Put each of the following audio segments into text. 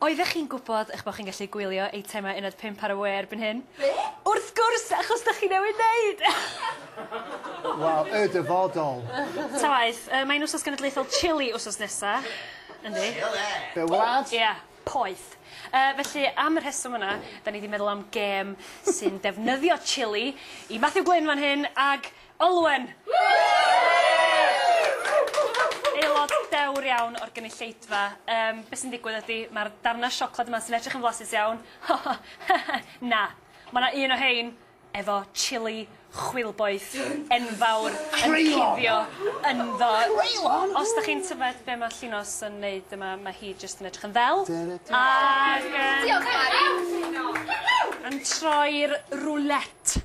Oeddech chi'n gwybod eich bod chi'n gallu gwylio eitemau uned pump ar y we erbyn hyn? Be? Wrth gwrs, achos dych chi newydd wneud! Wel, y dyfodol! Ta waeth, yy mae'n Wsos Genedlaethol Chili wsos nesa. Yndi. Chile! Be' wlad? Ia, poeth. Yy felly, am y rheswm yna, 'dan ni 'di meddwl am gêm sy'n defnyddio chili i Matthew Glyn fan hyn ag Olwen! Aelod dewr iawn o'r gynulleidfa. Yym, be' sy'n digwydd ydi, ma'r darna siocled yma sy'n edrych yn flasus iawn, na, ma' 'na un o rhein efo chilli chwilboeth enfawr yn cuddio ynddo. Creulon! Os 'dach chi'n tyfed be' ma' Llinos yn neud yma, ma' hi jyst yn edrych yn ddel, ag yym... Diolch Bari! ...yn troi'r roulette.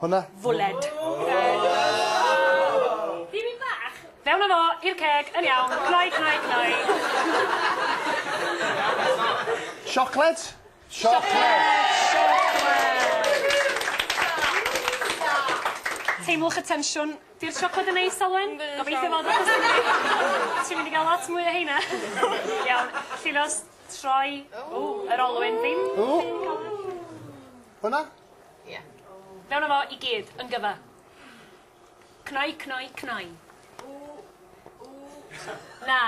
Hwnna. Fwled. Bibyn bach! Fewn â fo i'r ceg, yn iawn, cnoi, cnoi, cnoi. Siocled? Siocled! Teimlwch y tensiwn. Di'r siocled yn neis, Alwen? Gobeithio fod, achos ti'n mynd i... ti'n mynd i gael lot mwy o heina. Iawn, Llinos, troi. Ww, yr olwyn ddim yn cael... Hwnna? Ie. Mewn a fo i gyd, yn gyfa. Cnoi, cnoi, cnoi. Ww, ww. Na.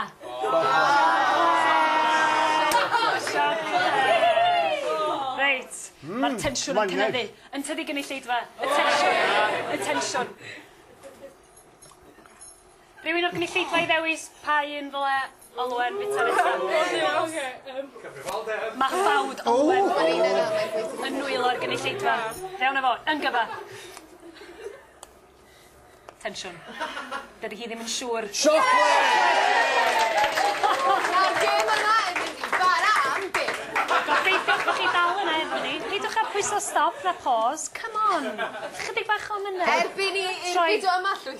Reit. Hmm. Ma'r tensiwn yn cynyddu. Yn tydi gynulleidfa? Y tensiwn. Y tensiwn. Rhywun o'r gynulleidfa i ddewis pa un ddyle Olwen fwyta nesa? Cyfrifoldeb! Mae ffawd Olwen yn nwylo i'r gynulleidfa. Fewn â fo, yn gyfa! Tensiwn. Dydy hi ddim yn siŵr. Siocled! Nawr gêm yma efo ni, bara am byth! Gobeithiwch bod chi dal yna efo ni. Peidiwch â pwyso stop na pause, come on! Chydig bach o emynedd. Erbyn i i'r fideo yma llwytho!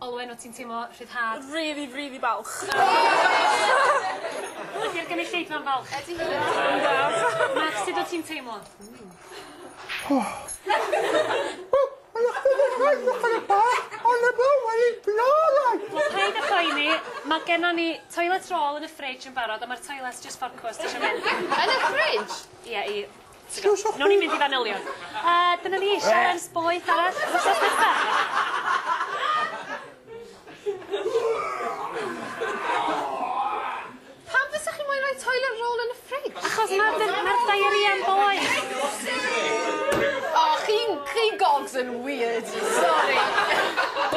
Olwen wt ti'n teimlo rhyddhad? Rili rili balch. Ydi'r gynulleidfa'n falch? Ydi hi. Yndw. Max sud wt ti'n teimlo? Wel paid a phoeni, ma' gennon ni toilet roll yn y fridge yn barod a ma'r toilets jyst ffocws os ti isio mynd. Yn y fridge? Ie i t'go'. Newn ni mynd i fanylion. A dyna ni, sialens boeth arall wsos nesa. Pam fysa chi moyn roi toilet roll yn y ffrij? Achos ma'r dy- ma'r diarrhea'n boeth. O chi'n chi'n gogs yn wierd. Sori.